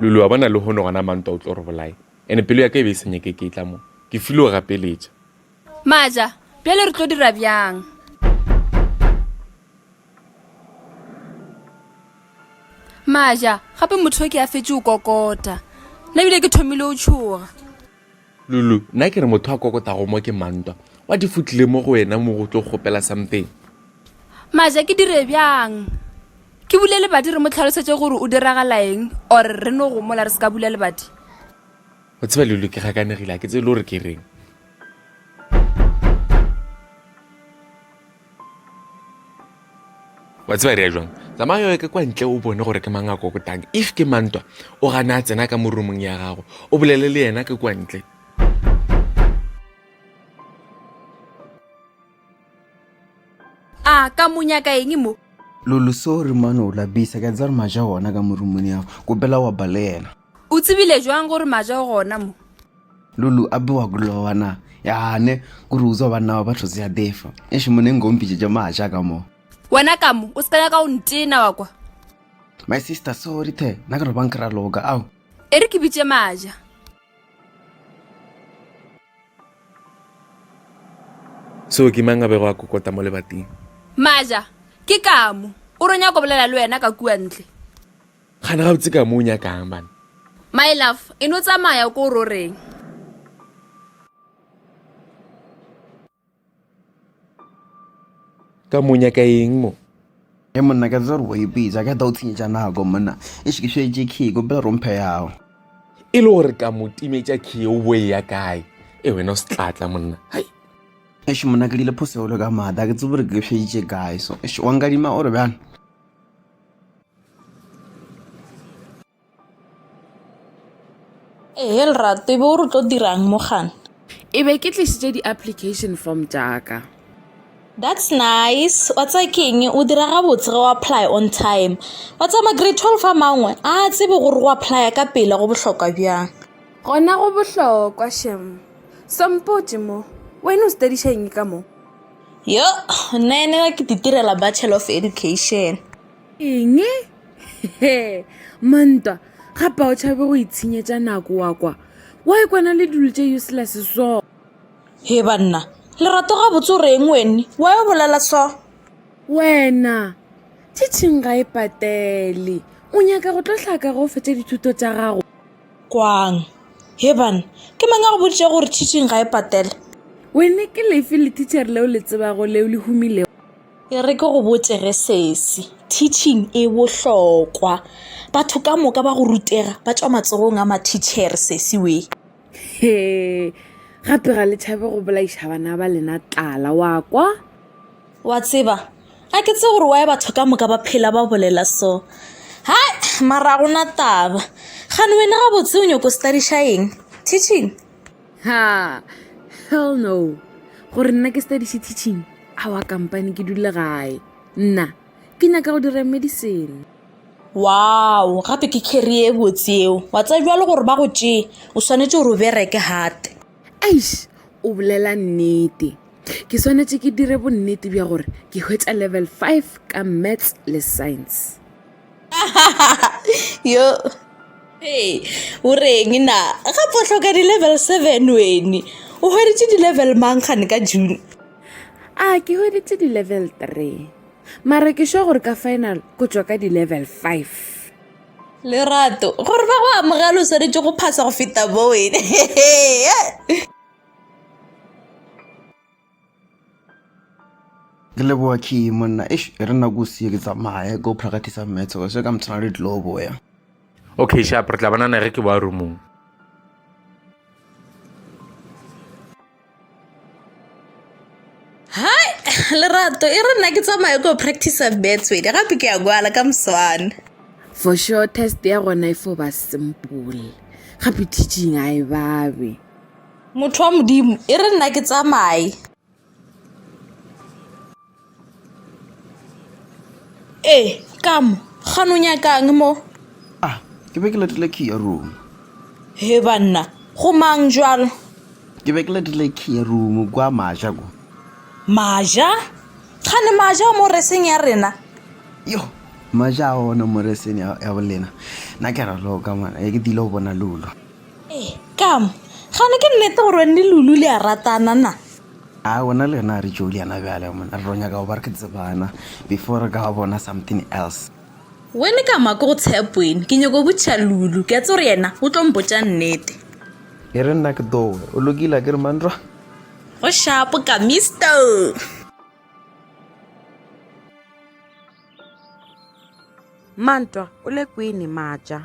Lulu, wa bona lehono gona mantwa o tlo re bolaye ene pelo ya ka e be e senyeke ke tla mo ke file o gapeletša maja bjale re tlo dira bjang maja gape motho o ke a fetše o kokota nna bile ke thomile o tšhoga Lulu, Nna ke re motho a kokotago mo ke mang ntwa? What if o tlile mo go wena mo go tlo kgopela something? Maja, Ke dire bjang? Ke bule lebati re mo tlhalosetše gore o diragalaeng or re no gomola re se ka bula lebati? O tseba Lulu ke gakanegile ga ke tsebe le gore ke reng. wa tseba re ya jwang tsamaya yo ke kwa ntle o bone gore ke mang a kokotang if ke mantwa o gana a tsena ka mo roomong ya gago o bolele le yena ke kwa ntle a ka monyaka eng mo lolo sorry mane o lapisa ke a tsaya gore maja ona ka mo roomong ya gago kopela wa ba le yena O tsebile jwang gore maja o gona mo? Lulu a bewa kulowa na. Yane, kuri uzwa banna wa batho zya defa. Eshi mune ngompije ja maja ka mo. Wena ka mo, o se ka nyaka o ntena wa kwa. My sister, sorry the, na karo bang kra loka, au. Eri ke bitše maja. So ke mang a bego a kokota mo lebating? Maja, ke ka mo. O re nyako bolela le wena ka kua ntle. Kgane gabotse ka mo o nyakang bana. My love, e no tsamaya ko o roreng. Ka mo o nyaka eng mo? Ge monna ka tsa gore o ipitsa ka ta o tshenyetša nako monna e se ke šetše key ko pele romphe yago. E le gore ka mo timetša key o bo e ya kae e wena o se tlatla monna. Hai. Eish monna ke dile phosegolo ka maata ke tsebe gore ke šeditše kae so eish wa nkadima o re bjang. Ehe lerato ebe o re tlo dirang mo gana e be ke tlisitse di-application form jaaka that's nice wa tsa keng o dira gabotse ge o apply on time wa tsa ma-grade twelve a mangwe a tsebe gore go apply ka pele go bohlokwa bjang gona go bohlokwa shem sompotse mo wena o studišang ka mo yo nna ene ke ditirela bachelor of education eng he mantwa ga pa o tšhabe go itshenyetša nako wa kwa wa e kwana le dilo tše useless so he banna lerato ga botse o reng wene wa yo bolela so wena tšhitšhing ga e patele o nyaka go tlo hlaka go fetša dithuto tša gago kwang he bana ke mang a go boditše gore tšhitšhing ga e patele wene ke lefe le teacher leo le tsebago leo le humilego E re ke go botše ge sesi, teaching e bohlokwa. Batho ka moka ba go rutega ba tšwa matsogong a mathitšhere sesi we. He, gape ga le tšhabe go bolaiša bana ba lena tlala, wa kwa? Wa tseba, a ke tse gore wae batho ka moka ba phela ba bolela so. Hai, mara gona taba. Gane wena gabotse o nyoko studiša eng? Teaching? ha hell no gore nna ke studiše teaching awa kampane ke dule gae nna ke nyaka go dira medicine wow gape ke carrie e botse eo wa tsa jwa le gore ba go tšee o swanetse gore o bereke gate eish o bolela nnete ke swanetse ke dire bonnete bja gore ke hwetša level five ka maths le science yo hey o reng na gape o tlhoka di-level seven wene o hweditše di-level mang gane ka june a ke hweditše di-level three mare ke sure gore ka final ko tswa ka di-level five lerato gore ba go amogela o swanetše go phasa go feta bo wene ke leboa key monna ish e re nako sie ke tsamaye go practice maths se ka mtshwana le tlo boya okay sharp re tla banana ge ke boa roomong hai lerato e re nna ke tsamaye go practice maths wena gape ke ya kwala ka moswana for sure test ya gona e fo ba simple gape teaching a e babe Motho wa Modimo, e re nna ke tsamaye. Ee, ka mo, ga no nyakang mo? Ah, ke be ke letile key ya room. He banna, go mang jwalo? Ke be ke letile key ya room kwa maja ko. Maja? Ga ne maja mo reseng ya rena? Yo, maja a ona mo reseng ya bolena. Na ke ra loka mwana, e ke dilo bona lulo. Ee, kam, gane ke nnete gore wene le Lulu le a ratana na? A wena le yena a re tšo liana bjale mona re tlo nyaka go ba re ke tsebana before re ka ba bona something else. Wene ka ma ke go tshep wene ke nyoko botšiša Lulu ke a tse gore yena o tlo mpotša nnete. E re nna ke towe o lokile a ke re manrwa. Go shapo ka Mister. Mantwa o le kwene maja.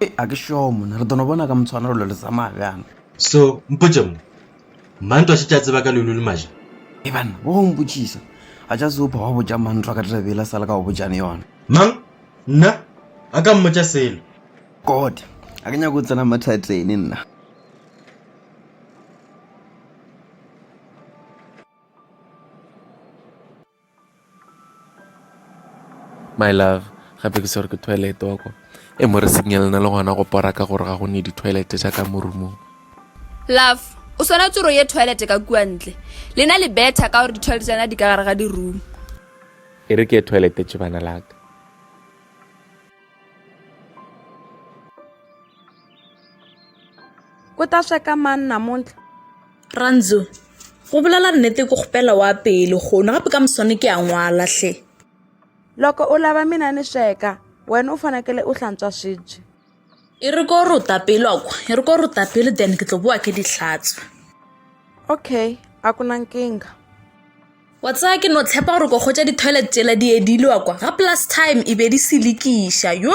Ee, a ke šoo monna, re dono bona ka motshwanelo lo le tsamaya bjang. So, mpotše mo, Mantwa šetše a tseba ka lelu le maja. Ee banna, bo go mpotšisa, a tša se upha wa botša Mantwa ka taba yela sa le ka go botšane yona. Mang? Nna? A ka mmotša selo. God, a ke nyake go tsena mathateni nna. My love, gape ke swerwe ke toilet wa kwa. E mo re signal na le gona go pora ka gore ga go ne di toilet tša ka mo roomong. Love, o swana tsoro ye toilet ka kua ntle. Lena le better ka gore di toilet tša na di ka gare ga di room. E re ke ye toilet tšebana la ka. o ta sweka mang namuntlha ranzo go bolela nnete ke kgopela wa pele gono gape ka moswane ke a ngwala hle loko u lava mina ni sweka wena u fanekele u hlantswa swibye e ri ko ruta pele loko e ri ko ruta pele then ke tlo bowa ke di hlatswa okay a ku na nkingha wa tsaya ke no tshepa gore ko kgotsa di-toilet tsela di edilwa kwa ga plus time e be di selekiša yo